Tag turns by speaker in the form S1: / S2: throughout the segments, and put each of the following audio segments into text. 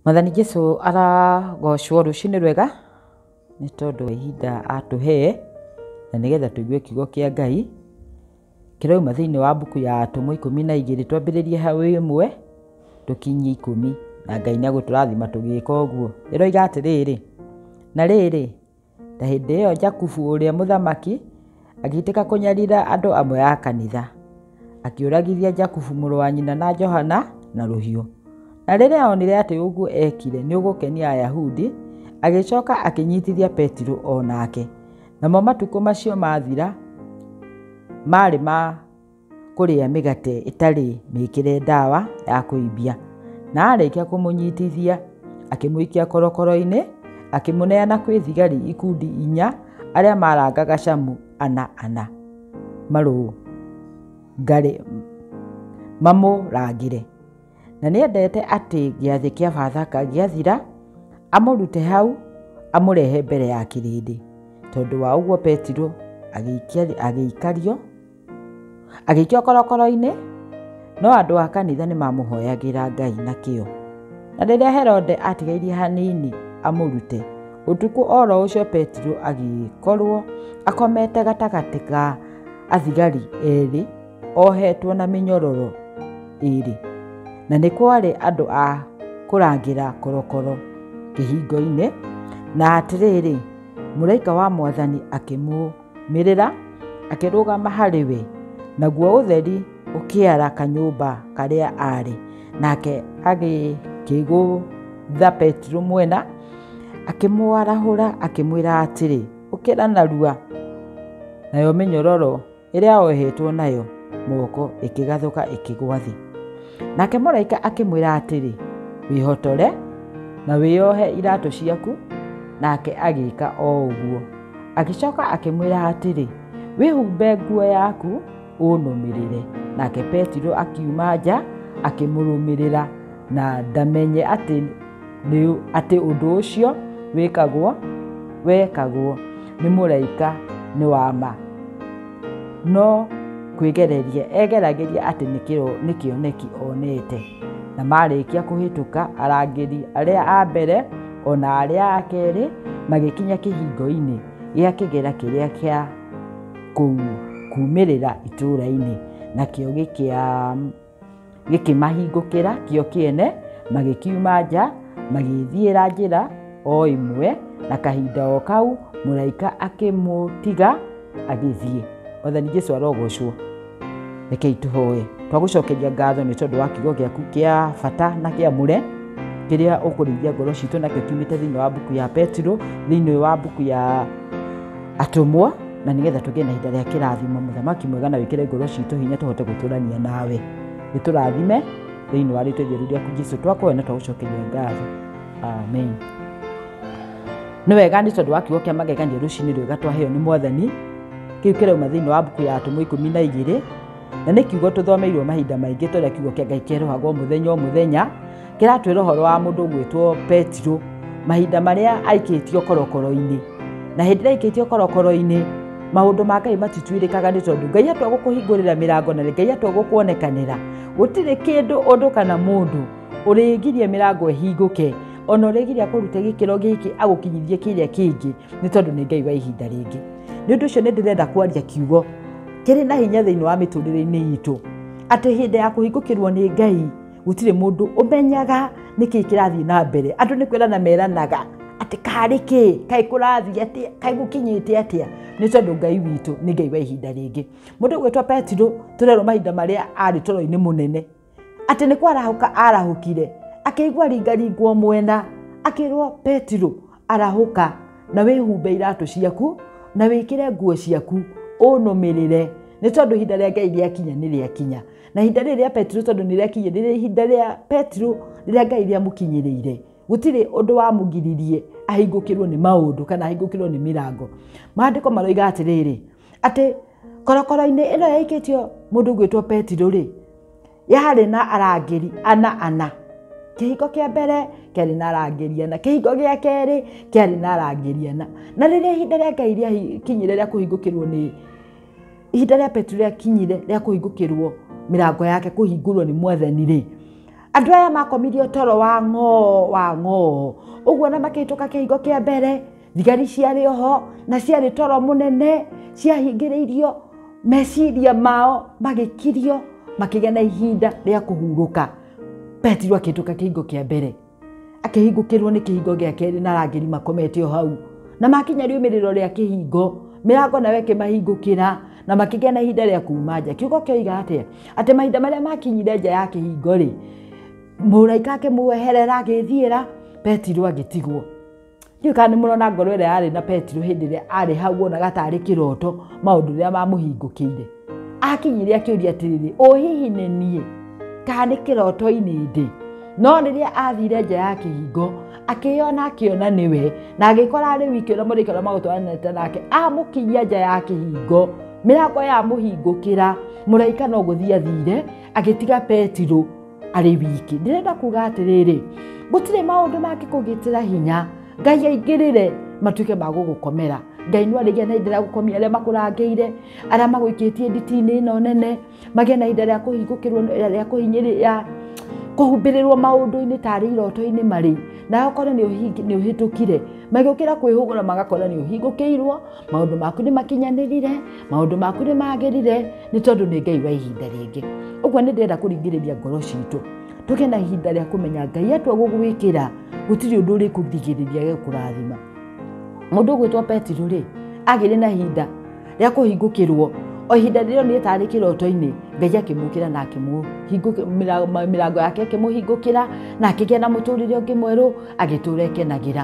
S1: Mwathani Jesu arogocwo rũcinĩ rwega nĩ tondũ wa ihinda atũhe na nĩgetha tũigue kiugo kĩa Ngai kĩrauma thĩinĩ wa mbuku ya Atũmwo ikũmi na igĩrĩ twambĩrĩrie hau ĩmwe tũkinyie ikũmi na Ngai nĩ egũtũrathima tũgĩka ũguo. Ĩroiga atĩrĩrĩ, na rĩrĩ Na hĩndĩ ĩyo Jakubu ũrĩa mũthamaki agĩitĩka kũnyarira andũ amwe a kanitha, akĩũragithia Jakubu mũrũ wa nyina na Johana na rũhiũ. Na rĩrĩa onire atĩ ũguo ekire nĩ ũgũkenia Ayahudi, agĩcoka akĩnyitithia Petiro o nake. Namo matukũ macio mathira maarĩ ma kũrĩa mĩgate ĩtarĩ mĩkĩre ndawa ya kũimbia. Na arĩkia kũmũnyitithia, akĩmũikia korokoro-inĩ, akĩmũneana kwĩ thigari ikundi inya, arĩa marangaga camu ana ana, marũngare, mamũrangĩre. Na nĩ endete atĩ gĩathĩ kĩa Bathaka gĩathira, amũrute hau, amũrehe mbere ya kĩrĩndĩ. Tondũ wa ũguo Petiro agĩikario. Agĩikio korokoro-inĩ, no andũ a kanitha nĩ mamũhoyagĩra Ngai na kĩo. Na rĩrĩa Herode atigairie hanini amũrute, ũtukũ o ro ũcio Petero agĩkorwo akomete gatagatĩ ga athigari erĩ ohetwo na mĩnyororo ĩrĩ. Na nĩ kwarĩ andũ a kũrangĩra korokoro kĩhingo-inĩ, na atĩrĩrĩ, mũraika wa mwathani akĩmũ Mĩrĩra akĩrũgama harĩ we, naguo ũtheri ũkĩara kanyũmba karĩa arĩ. Nake agĩkĩgũtha Petero mwena, akĩmwarahũra akĩmwĩra atĩrĩ, ũkĩra narua. Nayo mĩnyororo ĩrĩa ohetwo nayo moko ĩkĩgathũka ĩkĩgwa thĩ. Nake mũraika akĩmwĩra atĩrĩ, wĩhotore na wĩyohe iratũ ciaku, nake agĩka o ũguo. agĩcoka akĩmwĩra atĩrĩ wĩhumbe nguo yaku ũnũmĩrĩre nake petiro akiuma nja akĩmũrũmĩrĩra na ndamenye atĩ nĩ- atĩ ũndũ ũcio wĩkagwo wekagwo nĩ mũraika nĩ wa ma no kwĩgereria egeragĩria atĩ nĩ kĩro- nĩ kĩoneki onete na marĩkia kũhĩtũka arangĩri arĩa a mbere O na arĩa a kerĩ magĩkinya kĩhingo-inĩ gĩa kĩgera kĩrĩa kĩa kũu kuumĩrĩra itũũra-inĩ, nakĩo gĩkĩmahingũkĩra kĩo kĩene, magĩkiuma nja, magĩĩthiĩra njĩra o ĩmwe, na kahinda o kau mũraika akĩmũtiga agĩthiĩ. Mwathani Jesu arogoocwo! rekei tũhoe twagũcokeria ngatho nĩ tondũ wa kiugo gĩaku kĩa bata na kĩa mũre kĩrĩa ũkũrĩithia ngoro citũ nakĩo kiumĩte thĩinĩ wa mbuku ya petiro thĩinĩ wa mbuku ya atũmwo na nĩgetha tũgĩe na ihinda rĩa kĩrathimo mũthamaki mwega na wĩkĩre ngoro citũ hinya tũhote gũtũrania nawe gĩtũrathime thĩinĩ wa rĩtwa itheru rĩaku jesu twakoya na twagũcokeria ngatho amen nĩ wega nĩ tondũ wa kiugo kĩa magegania rũcinĩ rwega twaheo nĩ mwathani kĩu kĩrauma thĩinĩ wa mbuku ya atũmwo ikũmi na igĩrĩ na nĩ kiugo tũthomeirwo mahinda maingĩ tũrĩa kiugo kĩa ngai kĩerũhagwo mũthenya o mũthenya kĩratwĩra ũhoro wa mũndũ gwĩtwo petiro mahinda marĩa aikĩtio korokoro-inĩ na hĩndĩ ĩrĩa aikĩtio korokoro-inĩ maũndũ ma ngai matituĩrĩkaga nĩ tondũ ngai atua gũkũhingũrĩra mĩrango na ngai atua gũkuonekanĩra gũtirĩ kĩndũ ũndũ kana mũndũ ũrĩgirie mĩrango ĩhingũke ona ũrĩgiria kũruta gĩkĩro gĩkĩ agũkinyithie kĩrĩa kĩngĩ nĩ tondũ nĩ ngai wa ihinda rĩngĩ nĩ ũndũ ũcio nĩ ndĩrenda kwaria kiugo kĩrĩ na hinya thĩinĩ wa mĩtũrĩre-inĩ itũ atĩ hĩndĩ ya kũhingũkĩrwo nĩ ngai gũtirĩ mũndũ ũmenyaga nĩkĩ kĩrathiĩ na mbere andũ nĩ kwĩrana meranaga atĩ karĩ kĩ kaĩ kũrathiĩ atĩa kaĩ gũkinyĩte atĩa nĩ tondũ ngai witũ nĩ ngai wa ihinda rĩngĩ mũndũ gwĩtwo petiro tũrerwo mahinda marĩa arĩ toro-inĩ mũnene atĩ nĩ kwarahũka arahũkire akĩigua ringaringwo mwena akĩrwo petiro arahũka na wĩhumbe iratũ ciaku na wĩkĩre nguo ciaku ũnũmĩrĩre nĩ tondũ ihinda rĩa ngai rĩakinya nĩ rĩakinya na ihinda rĩrĩ rĩa petiro tondũ nĩ rĩakinya rĩrĩ ihinda rĩa petiro rĩrĩa ngai rĩamũkinyĩrĩire gũtirĩ ũndũ wamũgiririe ahingũkĩrwo nĩ maũndũ kana ahingũkĩrwo nĩ mĩrango maandĩko maroiga atĩrĩrĩ atĩ korokoro-inĩ ĩno yaikĩtio mũndũ gwĩtwo Petero rĩ, yarĩ na arangĩri ana ana. Kĩhingo kĩa mbere kĩarĩ na arangĩri ana, kĩhingo gĩa kerĩ kĩarĩ na arangĩri ana. Na rĩrĩa ihinda rĩa Ngai rĩakinyire rĩa kũhingũkĩrwo nĩ, ihinda rĩa Petero rĩakinyire rĩa kũhingũkĩrwo mĩrango yake kũhingũrwo nĩ Mwathani rĩ, andũ aya makomirio toro wa ng'oo wa ng'oo. Ũguo ona makĩhĩtũka kĩhingo kĩa mbere... thigari ciarĩ oho na ciarĩ toro mũnene ciahingĩrĩirio meciria mao magĩkirio makĩgĩa na ihinda rĩa kũhurũka petiro akĩhĩtũka kĩhingo kĩa mbere akĩhingũkĩrwo nĩ kĩhingo gĩa kerĩ na arangĩri makomete o hau na makinya riumĩrĩro rĩa kĩhingo mĩrango nayo ĩkĩmahingũkĩra na makĩgĩa na ihinda rĩa kuuma nja kiugo kĩoiga atĩa atĩ mahinda marĩa makinyire nja ya kĩhingo rĩ mũraika akĩmweherera agĩthiĩra petiro agĩtigwo Ndiũĩ kana nĩ mũrona ngoro ĩrĩa yarĩ na Petero hĩndĩ ĩrĩa arĩ hau wonaga tarĩ kĩroto maũndũ rĩrĩa mamũhingũkĩire. Akinyire akĩũria atĩrĩrĩ, ũ hihi nĩ niĩ? Kana nĩ kĩroto-inĩ ndĩ? No rĩrĩa athire nja ya kĩhingo, akĩyona akĩona nĩwe, na agĩkora arĩ wiki ũrĩa mũrĩka ũrĩa magũtwaranĩte nake, amũkinyia nja ya kĩhingo, mĩrango yamũhingũkĩra, mũraika no gũthiĩ athire, agĩtiga Petero. arĩ wiki ndĩrenda kuga atĩrĩrĩ gũtirĩ maũndũ mangĩkũgĩtĩra hinya ngai aingĩrĩre matuĩke ma gũgũkomera ngai nĩ arĩgĩa na ihinda rĩa gũkomia arĩa makũrangĩire arĩa magũikĩtie nditi-inĩ ĩno nene magĩe na ihinda rĩa kũhingũkĩrwo rĩa kũhinyĩrĩria kũhumbĩrĩrwo maũndũ-inĩ tarĩ iroto-inĩ marĩ nawe ũkore nĩ ũhĩtũkire magĩũkĩra kwĩhũgũra magakora nĩ ũhingũkĩirwo maũndũ maku nĩ makinyanĩrire maũndũ maku nĩ magĩrire nĩ tondũ nĩ ngai wa ihinda rĩngĩ ũguo nĩ ndĩrenda kũringĩrĩria ngoro citũ tũgĩe na ihinda rĩa kũmenya ngai atua gũgwĩkĩra gũtirĩ ũndũ ũrĩ kũgirĩrĩria gĩa kũrathima mũndũ ũgwĩtwo petiro rĩ agĩrĩ na ihinda rĩa kũhingũkĩrwo o ihinda rĩrĩa nĩ tarĩ kĩroto-inĩ ngai akĩmũkĩra na mĩrango yake ĩkĩmũhingũkĩra na akĩgĩa na mũtũrĩre ũngĩ mwerũ agĩtũra ekenagĩra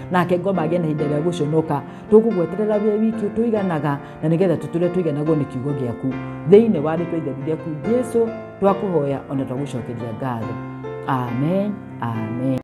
S1: nake ngoma agĩa na ihinda rĩa gũconoka tũkũgweterera wĩ wiki tũiganaga na nĩgetha tũtũre tũiganagwo nĩ kiugo gĩaku thĩinĩ wa rĩtwa itheru rĩaku jesu twakũhoya ona twagũcokeria ngatho amen amen